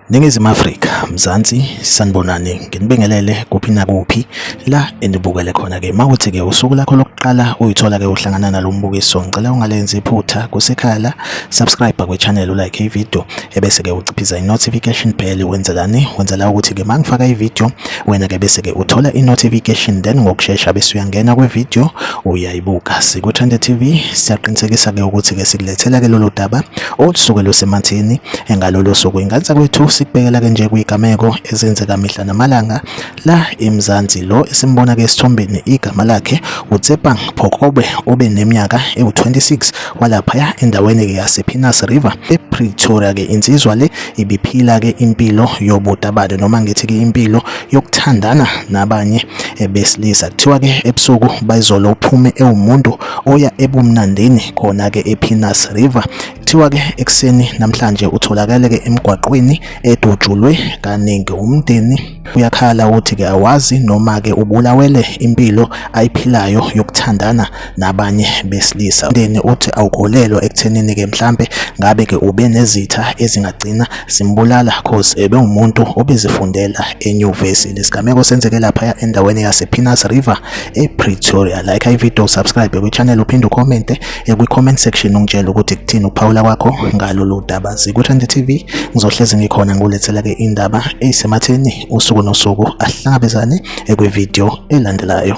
Ningizimu Afrika, Mzansi, sanibonani, nginibingelele kuphi nakuphi la enibukele khona ke. Mawuthi ke usuku lakho lokuqala uyithola ke uhlangana nalombukiso, ngicela ungalenzi iphutha kusekhaya la. subscribe kwi channel u like i video ebese ke uciphiza i notification bell wenzelani wenzela ukuthi ke mangifaka i video wena ke bese ke uthola i notification then ngokusheshsha bese uyangena kwi video uyayibuka siku Trend TV siyaqinisekisa ke ukuthi ke sikulethela ke lolu daba olusuke lusemathini engalolo suku ingansa kwethu sikubekela ke nje kuyigameko ezenzeka mihla namalanga La eMzansi lo esimbona ke esithombeni igama lakhe uTsepang Phokobe obe neminyaka ewu-26 walaphaya endaweni ke yasePinas River ePretoria ke insizwa le ibiphila ke impilo yobutabane noma ngithi ke impilo yokuthandana nabanye besilisa kuthiwa ke ebusuku bayizolo uphume ewumuntu oya ebumnandini khona ke ePinas River Kuthiwa ke ekuseni namhlanje utholakele ke emgwaqweni edutshulwe kaningi umndeni Uyakhala uthi ke awazi noma ke ubulawele impilo ayiphilayo yokuthandana nabanye besilisa. Ndeni uthi awukholelwa ekuthenini ke mhlambe ngabe ke ube nezitha ezingagcina zimbulala cause ebe umuntu obezifundela enyuvesi. Lesigameko senzeke lapha endaweni yasePinas River ePretoria. Like ivideo, subscribe kwichannel uphinde ucommente eh, kwi-comment section ungitshela ukuthi kuthini ukuphawula kwakho ngalolu daba zikuthande tv ngizohlezi ngikhona ngulethela-ke indaba eyisematheni usuku nosuku ahlangabezane ekwividiyo elandelayo